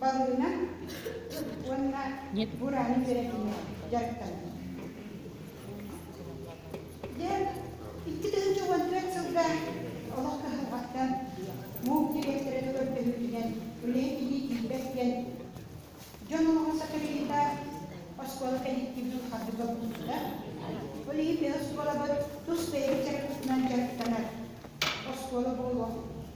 Балыына уонна Бураны Бэрэтинэ дьарыктанар. Дьэ, икки тыһыынча уон түөрт сылга олох кыһалҕаттан муус дириэктэрэ көрдөһүүтүнэн үлэһит илии тиийбэт диэн дьон олоҕо сатарыйыыта оскуола кэнниттиибин хардыга булбута. Ол иһин төһө оскуолабыт тус бэйэбит чарапытынан дьарыктанар оскуола буолуох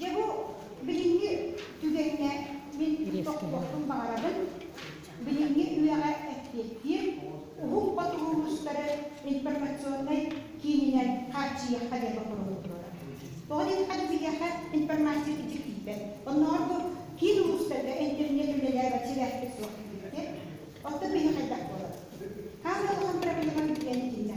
Гебу билиҥҥи түгэҥҥэ мин тохтуохпун баҕарабын, билиҥҥи үйэҕэ эппиэттиир уһун ботугу кустары информационнай киининэн хааччыйыахха диэн боппуруоһум Тоҕо диэтэххэ, биһиэхэ информация итик тиийбэт. Оннооҕор бу киин улуустарга интернет үлэлээбэт сибээспит суох диэбиттэр. Оттон биһиэхэ хайдах буолар? Хаан да улахан проблема билиэн итиннэ.